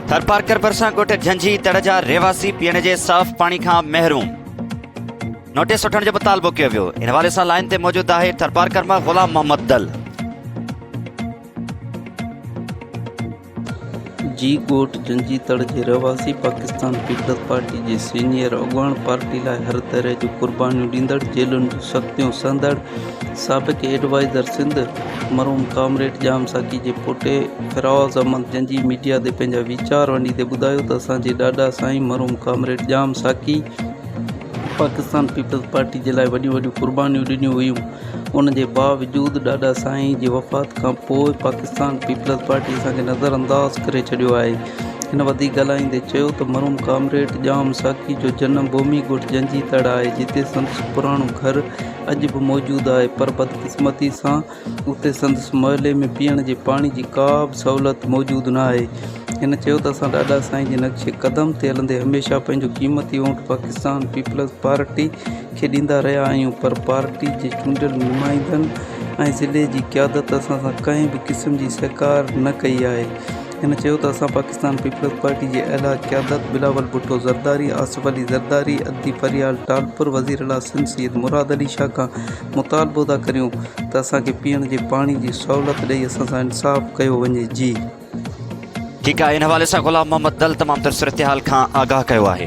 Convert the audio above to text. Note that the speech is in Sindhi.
ٿرپارڪر ڀرسان ڳوٺ جھنجھي تڙ جا رهواسي پيئڻ جي صاف پاڻي کان محروم، نوٽيس وٺڻ جو مطالبو ڪيو ويو، ان حوالي سان لائين تي موجود آهي ٿرپارڪر مان غلام محمد دل. جي ڳوٺ جھنجھي تڙ جي رهواسي پاڪستان پيپلز پارٽي جي سينيئر اڳواڻ پارٽي لاء هر طرح جون قربانيون ڏيندڙ جيلن جون سختيون سهندڙ، سابق ايڊوائيزر سنڌ مرحوم ڪامريڊ ڄام ساقي جي پوٽي فراز احمد جنجهي ميڊيا تي پنهنجا ويچار ونڊيندي ٻڌايو ته اسان جي ڏاڏا سائين مرحوم ڪامريڊ ڄام ساقي پاڪستان پيپلز پارٽي جي لاء وڏيون وڏيون قربانيون ڏنيون هيون ان جي باوجود ڏاڏا سائين جي وفات کان پوء پاڪستان پيپلز پارٽي اسان کي نظر انداز ڪري ڇڏيو آهي هن وڌيڪ ڳالهائيندي چيو ته مرحوم ڪامريڊ ڄام ساقي جو جنم ڀومي ڳوٺ جنجهي تڙ آهي جتي سندس پراڻو گهر اڄ به موجود آهي پر بدقسمتي سان اتي سندس محلي ۾ پيئڻ جي پاڻي جي ڪا به سهولت موجود نه آهي. هن چيو ته اسان ڏاڏا سائين جي نقش قدم تي هلندي هميشه پنهنجو قيمتي وونٽ پاڪستان پيپلز پارٽي کي ڏيندا رهيا آهيون پر پارٽي جي چونڊيل نمائندن ۽ ضلعي جي قيادت اسان سان ڪنهن به قسم جي سهڪار نه ڪئي آهي هن چيو ته اسان پاڪستان پيپلز پارٽي جي اعليٰ قيادت بلاول ڀٽو زرداري، آصف علي زرداري، ادي فريال ٽالپر، وزيراعليٰ سنڌ سيد مراد علي شاهه کان مطالبو ٿا ڪريون ته اسان کي پيئڻ جي پاڻي جي سهولت ڏئي اسان سان انصاف ڪيو وڃي. جي. ٺيڪ آهي، ان حوالي سان غلام محمد دل تمام تر صورتحال کان آگاهه ڪيو آهي.